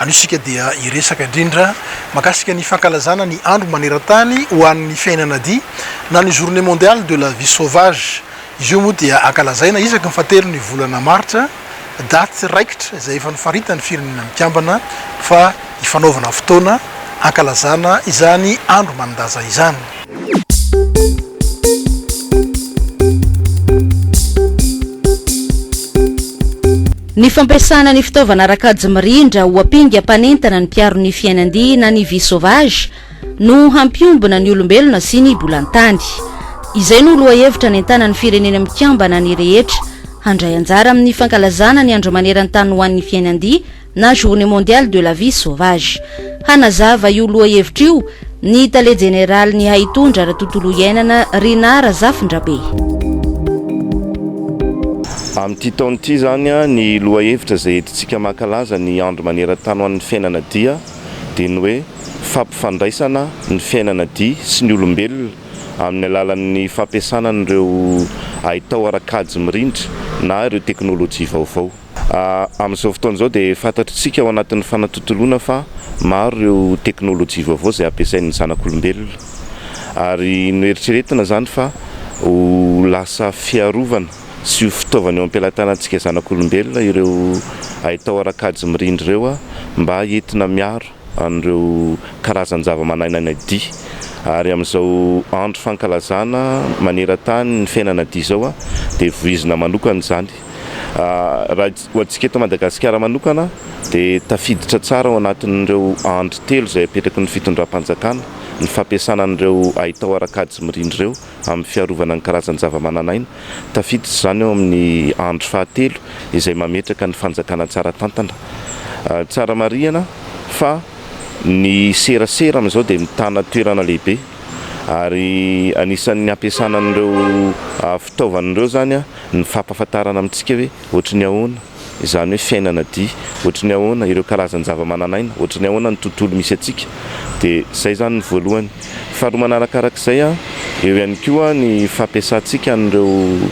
Anio isika dia hiresaka indrindra mahakasika ny fankalazana ny andro maneran-tany ho an'ny fiainana adia na ny Journée Mondiale de la Vie Sauvage. Izy io moa dia ankalazaina isaky ny fahatelon'ny volana martsa, daty raikitra izay efa nofaritan'ny Firenena Mikambana fa hifanaovana fotoana hankalazana izany andro manan-daza izany. Ny fampiasana ny fitaovana ara-kajy mirindra ho ampinga mpanentana ny mpiaro ny fiainan-dia na ny vie sauvage no hampiombona ny olombelona sy ny bolantany. Izay no lohahevitra nentanan'ny Firenena Mikambana ny rehetra handray anjara amin'ny fankalazana ny Andro Maneran-tany ho an'ny Fiainan-dia na Journée Mondiale de la Vie Sauvage. Hanazava io lohahevitra io ny Tale Jeneralin'ny Haitondra ara-tontolo iainana, Rinah Razafindrabe. Amin'ity taona ity izany, ny lohahevitra izay entintsika mankalaza ny andro maneran-tany ho an'ny fiainana dia dia ny hoe Fampifandraisana ny fiainana dia sy ny olombelona amin'ny alalan'ny fampiasana an'ireo haitao ara-kajy mirindra na ireo teknolojia vaovao. Amin'izao fotoana izao dia fantatr'isika ao anatin'ny fanatontoloana fa maro ireo teknolojia vaovao izay ampiasain'ny zanak'olombelona ary noeritreretina izany fa ho lasa fiarovana sy ho fitaovana eo am-pelatanantsika zanak'olombelona ireo haitao ara-kajy mirindra ireo mba entina miaro an'ireo karazan-javamanainana dia ary amin'izao andro fankalazana maneran-tany ny fiainana dia izao dia voizina manokana izany. Raha ho antsika eto Madagasikara manokana dia tafiditra tsara ao anatin'ireo andry telo izay apetraky ny fitondram-panjakana ny fampiasana an'ireo haitao ara-kajy mirindra ireo amin'ny fiarovana ny karazan-javamananaina. Tafiditra izany ao amin'ny andry fahatelo izay mametraka ny fanjakana tsara tantana. Tsara marihana fa ny serasera amin'izao dia mitana toerana lehibe ary anisan'ny hampiasana an'ireo fitaovana ireo izany. ny fampahafantarana amintsika hoe ohatry ny ahoana izany hoe fiainana dia, ohatry ny ahoana ireo karazan-javamananaina, ohatry ny ahoana ny tontolo misy antsika. Dia izay izany ny voalohany. Faharoa manarakarak'izay, eo ihany koa ny fampiasantsika an'ireo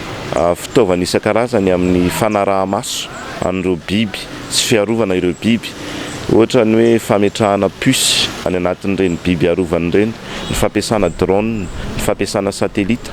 fitaovana isan-karazany amin'ny fanaraha-maso an'ireo biby sy fiarovana ireo biby. Ohatra ny hoe fametrahana puce any anatin'ireny biby arovana ireny, ny fampiasana drone, ny fampiasana satelita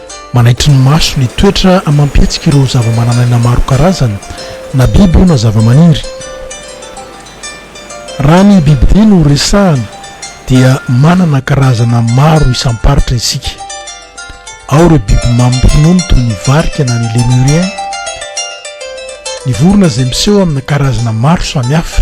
Manaitry ny maso ny toetra amam-pihetsiky ireo zavamananaina maro karazana, na biby io na zavamaniry. Raha ny bibidia no resahana dia manana karazana maro isam-paritra isika. Ao ireo biby mamy finoana toy ny varika na ny lemurien, ny vorona izay miseho amina karazana maro samihafa.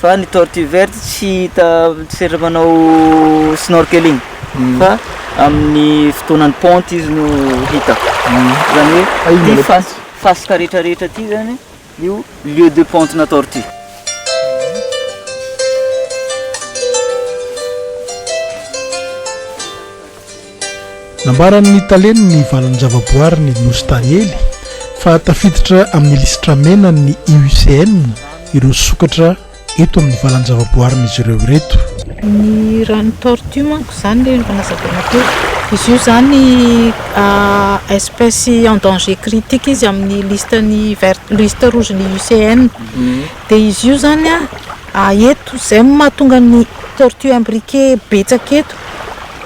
Fa ny tortue verte tsy hita setra manao snorkeling fa amin'ny fotoanan'ny ponte izy no hita. Zany hoe ty fasika rehetra rehetra ty zany io lieu de ponte na tortue. Nambaran'ny Talen'ny ny valan'ny zavaboary ny Nosy Taniely fa tafiditra amin'ny lisitra mena ny IUCN ireo sokatra eto amin'ny valan'ny zavaboarin'izy ireo ireto. Ny rano tortue manko izany ilay efa nazavaina teo. Izy io izany espèce en danger critique izy amin'ny listan'ny vert, liste rouge ny IUCN. Dia izy io izany eto izay no mahatonga ny tortue imbriquée betsaka eto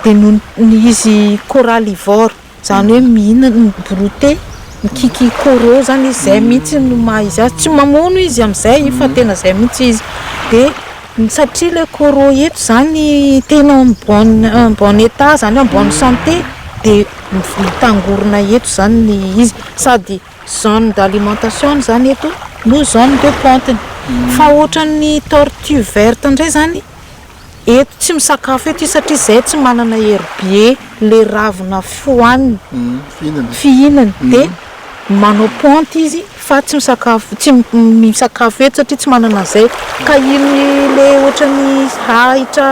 dia noho ny izy coralivore izany hoe mihinana ny broute mikiky coraux izany izy izay mihitsy no maha izy azy tsy mamono izy amin'izay fa tena izay mihitsy izy dia satria ilay coraux eto izany tena en bonne en bonne état izany hoe en bonne santé dia mitangorona eto izany ny izy sady zone d'alimentation-ny izany eto no zone de pente-ny fa ohatran'ny tortue verte indray izany eto tsy misakafo eto izy satria zay tsy manana hery be le ravina fohaniny fihinany de manao ponty izy fa tsy misakafo tsy misakafo eto satria tsy manana an'izay ka iny le ohatran'ny ahitra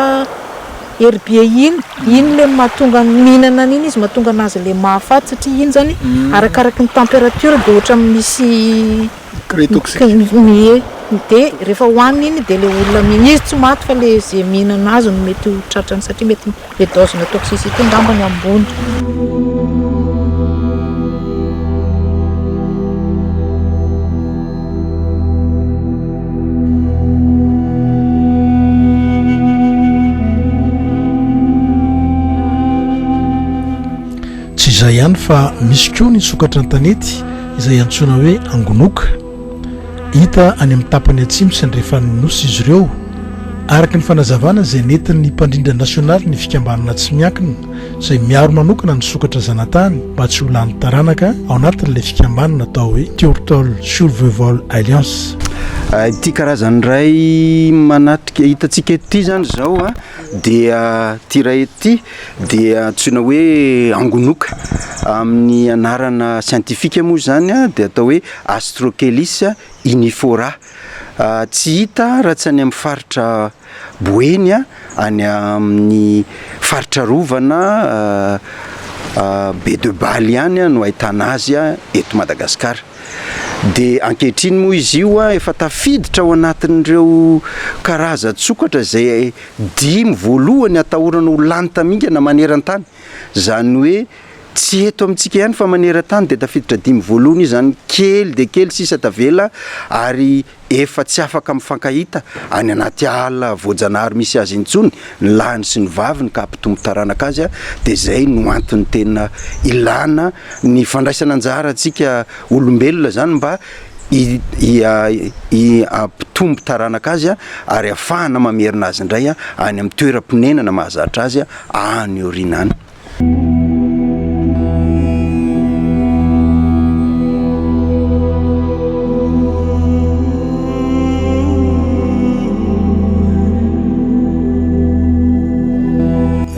hery be iny iny le mahatonga ny mihinana an'iny izy mahatonga anazy le mahafaty satria iny zany arakaraky ny temperature de ohatran'ny misy Grille toxique. Ny grille dia rehefa hohanina iny dia ilay olona mihina izy tsy maty fa ilay izay mihinana azy no mety ho tratrany satria mety ilay dose na toxicité angamba no ambony. Tsy izay ihany fa misy koa ny sokatra an-tanety izay antsoina hoe angonoka. Hita any amin'ny tapany atsimo sy andrefan'ny Nosy izy ireo. Araka ny fanazavana izay nentin'ny mpandrindra nasionaly ny fikambanana tsy miankina izay miaro manokana ny sokatra zanatany mba tsy ho lany taranaka ao anatin'ilay fikambanana atao hoe Turtle Survival Alliance. Ity karazany iray manatrika hitantsika ity izany izao dia ity iray ity. dia antsoina hoe angonoka. Amin'ny anarana siantifika moa izany dia atao hoe Astrocheilus inifora. Tsy hita raha tsy any amin'ny faritra Boeny, any amin'ny faritra arovana Be de Bale ihany no ahitana azy eto Madagasikara. Dia ankehitriny moa izy io efa tafiditra ao anatin'ireo karazan-tsokatra izay. Dimy voalohany atahorana ho lany tamingana maneran-tany. Izany hoe tsy eto amintsika ihany fa maneran-tany dia tafiditra dimy voalohany io izany. Kely dia kely sisa tavela ary efa tsy afaka mifankahita any anaty ala voajanahary misy azy intsony ny lahiny sy ny vaviny ka hampitombo taranaka azy dia izay no antony tena ilana ny fandraisana anjara antsika olombelona izany mba hampitombo taranaka azy ary hahafahana mamerina azy indray any amin'ny toeram-ponenana mahazatra azy any aoriana any.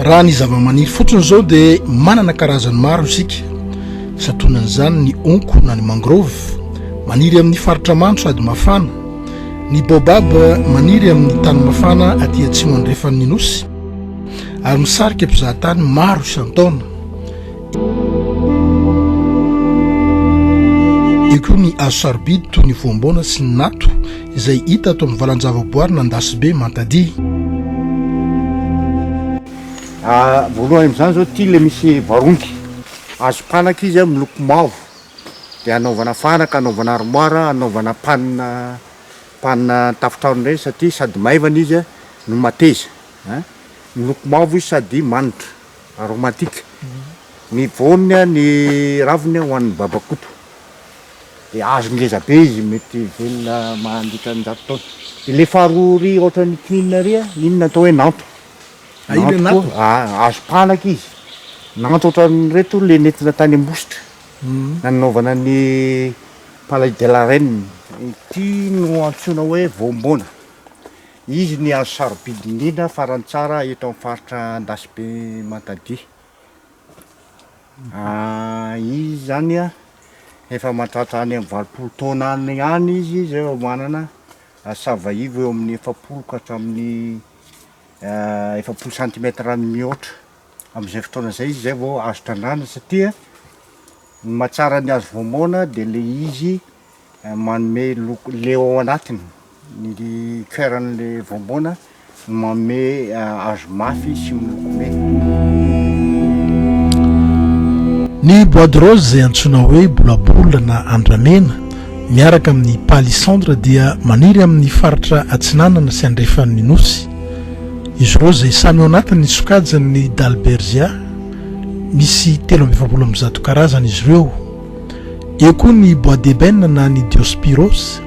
Raha ny zava-maniry fotsiny izao dia manana karazany maro isika. Santonan'izany ny honko na ny mangrove, maniry amin'ny faritra mando sady mafana, ny baobab, maniry amin'ny tany mafana aty atsimo andrefan'ny Nosy, ary misarika mpizahatany maro isan-taona. Eo koa ny hazo sarobidy toy ny voamboana sy ny nato, izay hita ato amin'ny valan-javaboary Nandasibe Mantadihy. Voalohany amin'izany izao ity ilay misy barongy. Azo panaka izy miloko mavo dia anaovana fanaka, anaovana armoire, anaovana panina panina an-tafontrano ireny satria sady maivana izy no mateza a! miloko mavo izy sady manitra, aromatique, ny voany a ny raviny ho an'ny babakoto dia hazo ngeza be izy mety velona mandritra ny zato taona, dia ilay faharoa iry ohatran'ny kininina iry a, inona atao hoe nanto. Nantoko, azo palaka izy. Nantoko ohatran'ireto ilay nentina tany Ambositra, nanaovana ny palais de la reine. Ity no antsoina hoe voambona. Izy ny hazo sarobidy indrindra faran'ny tsara eto amin'ny faritra Andasibe Mantadia. Izy izany an, efa mahatratra any amin'ny valopolo taona any ihany izy izay vao manana sava ivo eo amin'ny efapolo ka hatramin'ny efapolo centimètre mihoatra amin'izay fotoana izay izy zay vao azo trandrahana satria ny mahatsara ny hazo voamaona de le izy manome loko le ao anatiny ny coeur-n'le voamaona no manome hazo mafy sy miloko mena. Ny bois de rose izay antsoina hoe bolabola na andramena miaraka amin'ny palissandre dia maniry amin'ny faritra atsinanana sy andrefan'ny Nosy. Izy ireo izay samy ao anatin'ny sokajin'ny Dalbergia, misy telo amby efapolo amby zato karazana izy ireo. Eo koa ny Bois d'Ébène na ny Diospyros,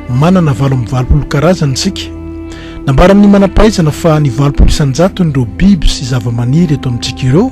manana valo amby valopolo karazana isika. Nambaran'ny manam-pahaizana fa ny valopolo isan-jatony ireo biby sy zava-maniry eto amintsika ireo.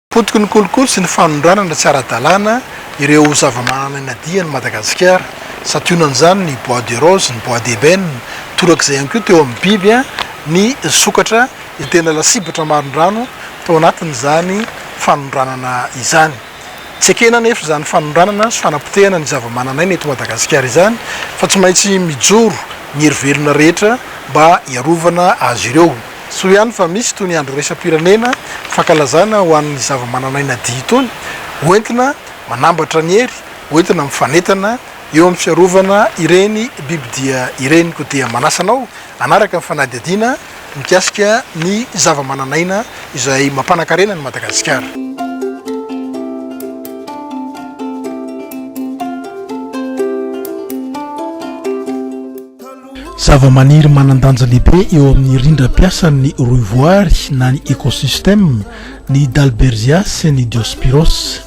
Potiky ny kolikoly sy ny fanondranana tsy ara-dalàna ireo zavamananaina dian'i Madagasikara. Santionan'izany ny bois de rose, ny bois d'ebène. Torak'izay ihany koa teo amin'ny biby ny sokatra izay tena lasibatra marindrano tao anatin'izany fanondranana izany. Tsy ekena anefa izany fanondranana sy fanapotehana ny zavamananaina eto Madagasikara izany fa tsy maintsy mijoro ny hery velona rehetra mba hiarovana azy ireo. Soa ihany fa misy itony andro iraisam-pirenena fankalazana ho an'ny zavamananaina dihy itony, ho entina manambatra ny hery ho entina mifanentana eo amin'ny fiarovana ireny bibidia ireny. Koa dia manasa anao hanaraka ny fanadihadiana mikasika ny zavamananaina izay mampanan-karena an'i Madagasikara. Zavamaniry manan-danja lehibe eo amin'ny rindram-piasan'ny rohivoary na ny écosystème ny Dalbergia sy ny Diospyros.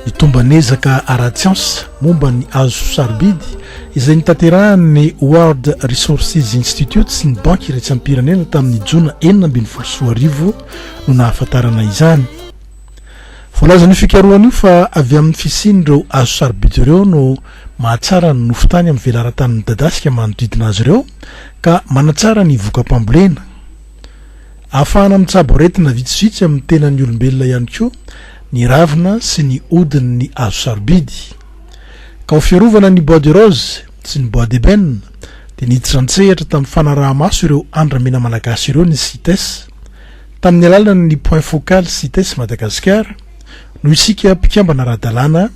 Ny tomban'ezaka ara-tsiansa momba ny hazo sarobidy izay notanterahin'ny World Resources Institute sy ny Banky iraisam-pirenena tamin'ny Jona enina ambin'ny folo sy roa arivo no nahafantarana izany. Voalazan'io fikarohana io fa avy amin'ny fisian'ireo hazo sarobidy ireo no mahatsara ny nofon-tany amin'ny velaran-tany midadasika manodidina azy ireo ka manatsara ny voka-pambolena. Ahafahana mitsabo aretina vitsivitsy amin'ny tenan'ny olombelona ihany koa ny ravina sy ny hodin'ny hazo sarobidy. Ka ho fiarovana ny bois de rose sy ny bois d'ébène dia niditra an-tsehatra tamin'ny fanaraha-maso ireo andramena malagasy ireo ny Cites, Tamin'ny alalan'ny Point Focal Cites Madagasikara no isika mpikambana ara-dalàna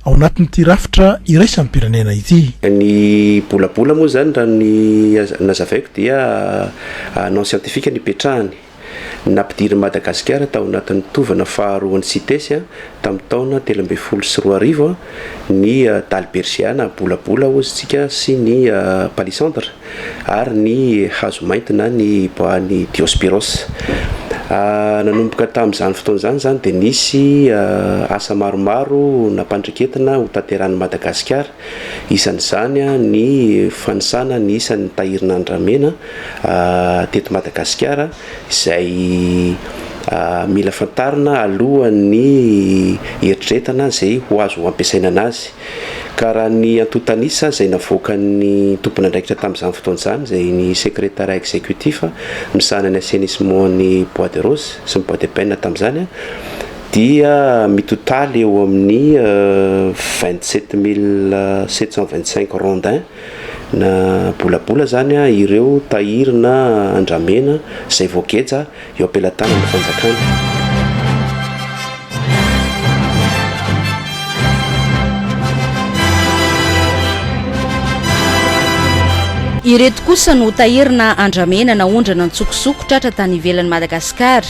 ao anatin'ity rafitra iraisam-pirenena ity. Ny bolabola moa izany raha ny nazavaiko dia non scientifique no ipetrahany. Nampidirin'i Madagasikara tao anatin'ny tovana faharoan'ny Cites tamin'ny taona telo ambin'ny folo sy roa arivo ny Dalbergia na bolabola hozy tsika sy ny Palissandre. ary ny hazo mainty na ny bois ny diospyros. Nanomboka tamin'izany fotoana izany izany dia nisy asa maromaro nampandreketina ho tanterahin'i Madagasikara, isan'izany ny fanisana ny isan'ny tahirin'ny andramena teto Madagasikara izay mila fantarina alohan'ny eritreretana izay ho azo ampiasaina an'azy. ka raha ny antontan'isa izay navoakan'ny tompon'andraikitra tamin'izany fotoana izany izay ny Secrétariat Exécutif misahana ny Assainissement ny Bois de Rose sy ny Bois de Pène tamin'izany dia mitotaly eo amin'ny 27 mille 725 rondin na bolabola izany ireo tahiry na andramena izay voageja eo am-pelatanan'ny fanjakana. Ireto kosa no tahirina andramena naondrana an-tsokosoko tratra tany ivelan'i Madagasikara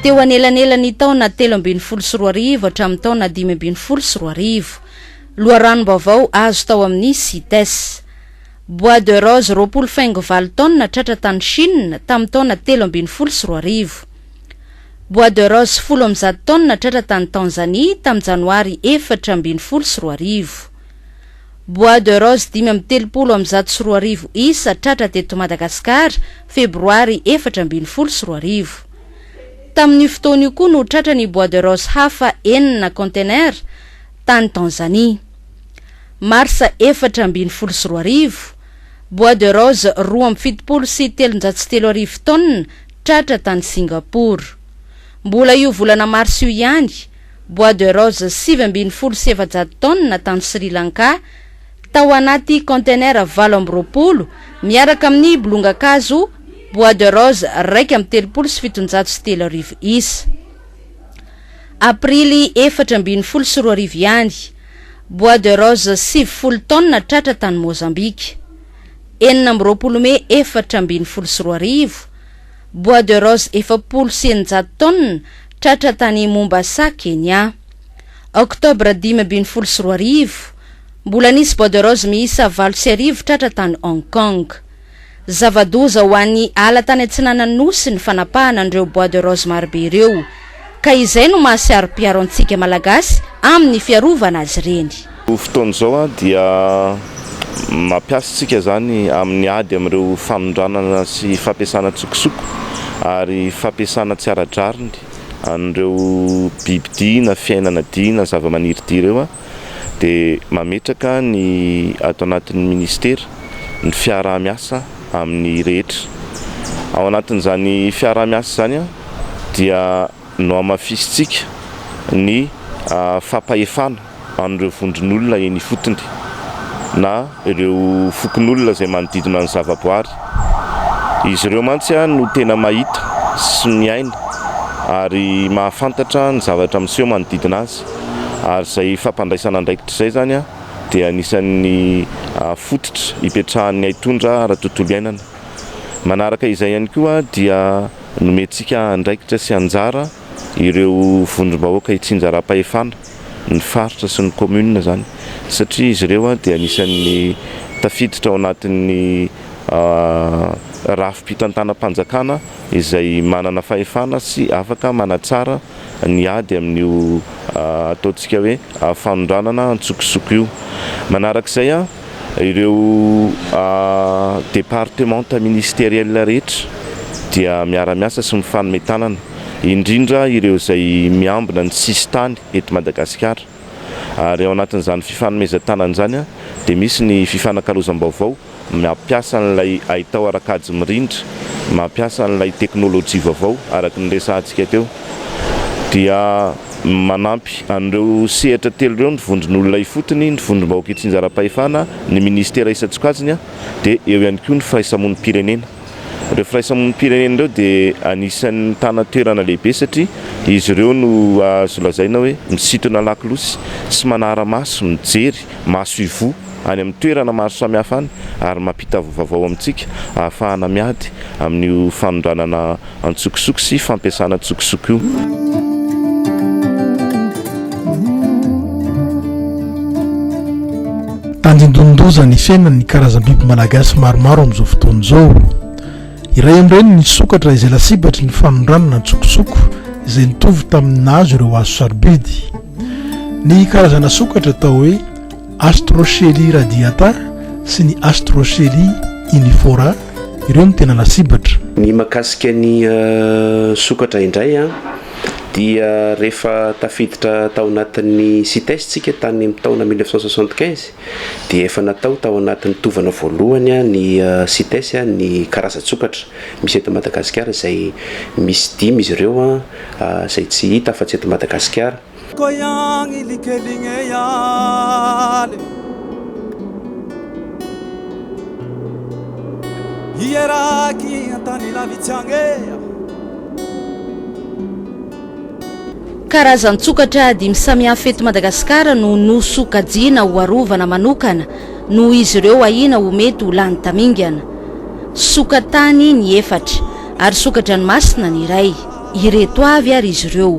teo anelanelan'ny taona telo ambin'ny folo sy roa arivo hatramin'ny taona dimy ambin'ny folo sy roa arivo. Loharanom-baovao azo tao amin'ny CITES. Bois de rose roapolo faingo valo taonina tratra tany Chine tamin'ny taona telo ambin'ny folo sy roa arivo. Bois de rose folo amby zato taonina tratra tany Tanzanie tamin'ny Janoary efatra ambin'ny folo sy roa arivo. Bois de rose dimy amby telopolo amby zato sy roa arivo isa tratra teto Madagasikara, Febroary efatra ambin'ny folo sy roa arivo. Tamin'io fotoana io koa no tratra ny bois de rose hafa enina container tany Tanzanie. Marsa efatra ambin'ny folo sy roa arivo, Bois de rose roa amby fitopolo sy telonjato sy telo arivo tonnes tratra tany Singapour. Mbola io volana marsa io ihany, Bois de rose sivy ambin'ny folo sy efajato tonnes tany Sri Lanka, tao anaty container valo amby roapolo, miaraka amin'ny bolongan-kazo Bois de rose iraika amby telopolo sy fitonjato sy telo arivo isa. Aprily efatra ambin'ny folo sy roa arivo ihany, bois de rose sivifolo taonina tratra tany Mozambika. Enina amby roapolo mey efatra ambin'ny folo sy roa arivo, bois de rose efapolo sy eninjato taonina tratra tany Mombasa, Kenya. Octobre dimy ambin'ny folo sy roa arivo, mbola nisy bois de rose miisa valo sy arivo tratra tany Hong Kong. Zava-doza ho an'ny ala tany atsinanan'ny Nosy ny fanapahana an'ireo bois de rose marobe ireo. Ka izay no maha saropiaro antsika Malagasy amin'ny fiarovana azy ireny. Amin'izao fotoana izao dia mampiasa isika izany amin'ny ady amin'ireo famindranana sy fampiasana antsokosoko ary fampiasana tsy ara-drariny an'ireo bibidia na fiainana dia na zava-maniry dia ireo. dia mametraka ny ato anatin'ny Ministera ny fiaraha-miasa amin'ny rehetra. Ao anatin'izany fiaraha-miasa izany dia nohamafisintsika ny fampahefana an'ireo vondron'olona eny ifotony na ireo fokonolona izay manodidina ny zavaboary. Izy ireo mantsy no tena mahita sy miaina ary mahafantatra ny zavatra miseho manodidina azy. Ary izay fampandraisana andraikitra izay izany dia anisan'ny fototra ipetrahan'ny haitondra ara-tontolo iainana. Manaraka izay ihany koa dia nomentsika andraikitra sy anjara ireo vondrom-bahoaka itsinjaram-pahefana, ny faritra sy ny kaominina izany satria izy ireo dia anisan'ny tafiditra ao anatin'ny rafi-pitantanam-panjakana. izay manana fahefana sy afaka manatsara ny ady amin'io ataontsika hoe fanondranana an-tsokosoko io. Manarak'izay, ireo departemanta ministeriela rehetra dia miara-miasa sy mifanome tanana, indrindra ireo izay miambina ny sisintany eto Madagasikara. ary ao anatin'izany fifanomezan-tanana izany dia misy ny fifanakalozam-baovao mampiasa an'ilay haitao ara-kajy mirindra, mampiasa an'ilay teknolojia vaovao araka ny resahantsika teo dia manampy an'ireo sehatra telo ireo ny vondron'olona ifotony, ny vondrom-bahoaka itsinjaram-pahefana, ny minisitera isan-tsokajiny dia eo ihany koa ny firaisamonim-pirenena. Ireo firaisamonim-pirenena ireo dia anisan'ny mitana toerana lehibe satria izy ireo no azo lazaina hoe misintona lakolosy sy manara-maso mijery maso ivoho any amin'ny toerana maro samihafa any ary mampita vaovao amintsika ahafahana miady amin'io fanondranana antsokosoko sy fampiasana antsokosoko io. Tandindonin-doza ny fiainan'ny karazam-biby malagasy maromaro amin'izao fotoana izao. Iray amin'ireny ny sokatra izay lasibatry ny fanondranana antsokosoko izay nitovy tamin'ny nahazo ireo hazo sarobidy. Ny karazana sokatra atao hoe Astrochelia radiata sy ny Astrochelia inifora, ireo no tena lasibatra. Ny mahakasika ny sokatra indray dia rehefa tafiditra tao anatin'ny Cites isika tany amin'ny taona mille neuf cent soixante quinze dia efa natao tao anatin'ny tovana voalohany ny Cites ny karazan-tsokatra misy eto Madagasikara izay misy dimy izy ireo izay tsy hita afa-tsy eto Madagasikara. Koyang ilikeling e yale Hieraki antany lavitsy agny e ah. Karazan-tsokatra dimy samihafa eto Madagasikara no nosokajiana ho arovana manokana noho izy ireo ahiana ho mety ho lany tamingana. Soka-tany ny efatra ary soka-dranomasina ny iray. Ireto avy ary izy ireo.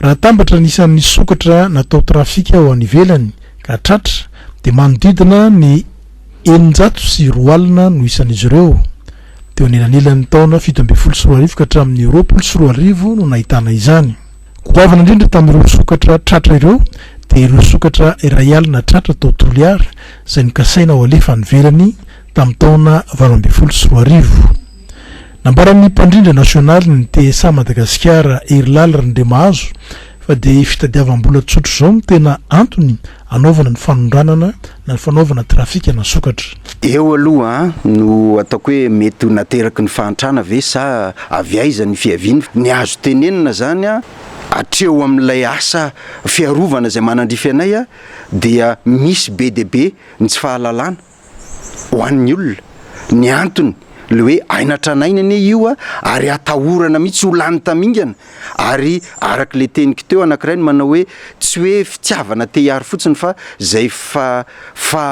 Raha atambatra ny isan'ny sokatra natao trafika ho any ivelany ka tratra dia manodidina ny eninjato sy roa alina no isan'izy ireo. Teo anelanelan'ny taona fito ambin'ny folo sy roa arivo ka hatramin'ny roapolo sy roa arivo no nahitana izany. Goavana indrindra tamin'ireo sokatra tratra ireo dia ireo sokatra iray alina tratra tao Toliara izay nokasaina ho alefa any ivelany tamin'ny taona valo ambin'ny folo sy roa arivo. Nambaran'ny mpandrindra nasionalin'ny TSA Madagasikara, Herilaly Rindrimahazo, fa dia fitadiavam-bola tsotra izao no tena antony anaovana ny fanondranana na ny fanaovana trafika na sokatra. Eo aloha no ataoko hoe mety ho nateraky ny fahantrana ve sa avy aiza ny fiaviany. Ny azo tenenina izany hatreo amin'ilay asa fiarovana izay manandrify anay dia misy be dia be ny tsy fahalalana. ho an'ny olona. Ny antony, le hoe aina tranainy anie io a, ary atahorana mihitsy ho lany tamingana, ary araka le teniko teo anankiray ny manao hoe tsy hoe fitiavana te hiaro fotsiny fa zay fa fa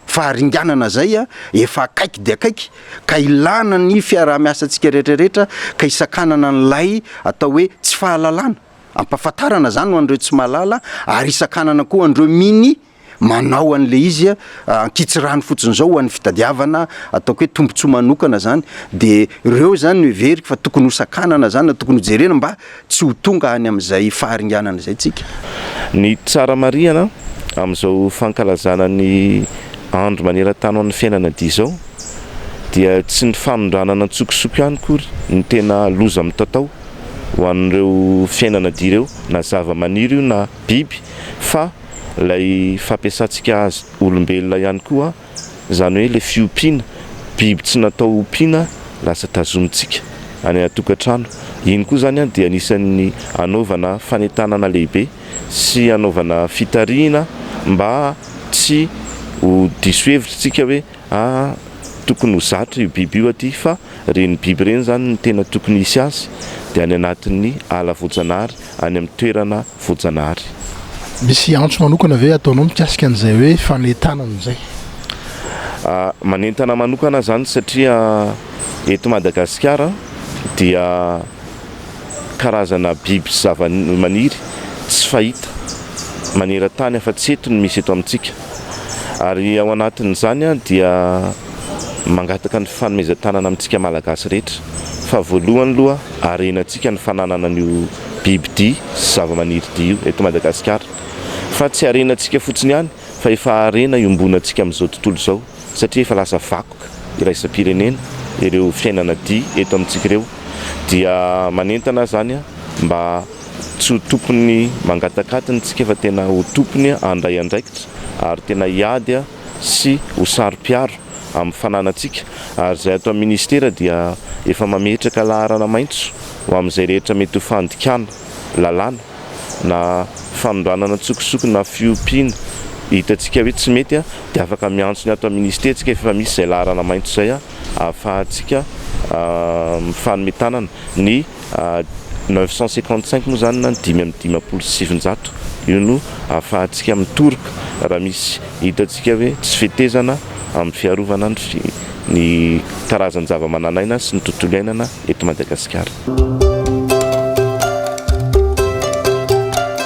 faharinganana zay a, efa akaiky dia akaiky ka ilana ny fiaraha-miasantsika rehetra rehetra ka hisakanana an'ilay atao hoe tsy fahalalana, ampahafantarana zany ho an'ireo tsy mahalala ary hisakanana koa an'ireo minia. manao an'ilay izy ankitsirano fotsiny izao ho an'ny fitadiavana ataoko hoe tombontsoa manokana izany dia ireo izany no heveriko fa tokony ho sakanana izany na tokony ho jerena mba tsy ho tonga any amin'izay faharinganana izay tsika. Ny tsara marihana amin'izao fankalazana ny andro maneran-tany ho an'ny fiainana dia izao dia tsy ny fanondranana an-tsokosoko ihany akory no tena loza mitatao ho an'ireo fiainana dia ireo na zava-maniry io na biby fa ilay fampiasantsika azy olombelona ihany koa, izany hoe ilay fiompiana, biby tsy natao hompiana lasa tazomintsika any an-tokantrano. Iny koa izany dia anisan'ny anaovana fanentanana lehibe sy anaovana fitarihina mba tsy ho diso hevitra isika hoe, Ah tokony ho zatra io biby io aty fa reny biby reny zany ny tena tokony hisy azy de any anatin'ny ala voajanahary any amin'ny toerana voajanahary. Misy antso manokana ve ataonao mikasika an'izay hoe fanentanana izay? Ah manentana manokana zany satria eto Madagasikara dia karazana biby sy zava-maniry tsy fahita maneran-tany afa-tsy eto no misy eto amintsika. ary ao anatin'izany dia mangataka ny fanomezan-tanana amintsika Malagasy rehetra fa voalohany aloha harenantsika ny fananana an'io bibidia sy zavamanirydia io eto Madagasikara fa tsy harenantsika fotsiny ihany fa efa harena iombonantsika amin'izao tontolo izao satria efa lasa vakoka iraisam-pirenena ireo fiainana dia eto amintsika ireo dia manentana izany mba Tsy ho tokony mangatak'atiny tsika fa tena ho tokony handray andraikitra ary tena hiady sy ho saro-piaro amin'ny fananantsika ary izay ato amin'ny Ministera dia efa mametraka laharana maitso ho amin'izay rehetra mety ho fandikana lalàna na fanondranana an-tsokosoko na fiompiana hitantsika hoe tsy mety dia afaka miantso ny ato amin'ny Ministera tsika fa efa misy izay laharana maitso izay ahafahantsika mifanome tanana ny neuf cent cinquante cinq moa izany na ny dimy amby dimampolo sy sivinjato io no ahafahantsika mitoroka raha misy hitantsika hoe tsy fetezana amin'ny fiarovana ny karazan-javamananaina sy ny tontolo iainana eto Madagasikara.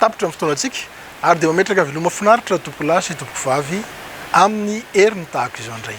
Tapitra ny fotoanantsika ary dia mametraka veloma finaritra tompokolahy sy tompokovavy amin'ny heriny tahaka izao indray.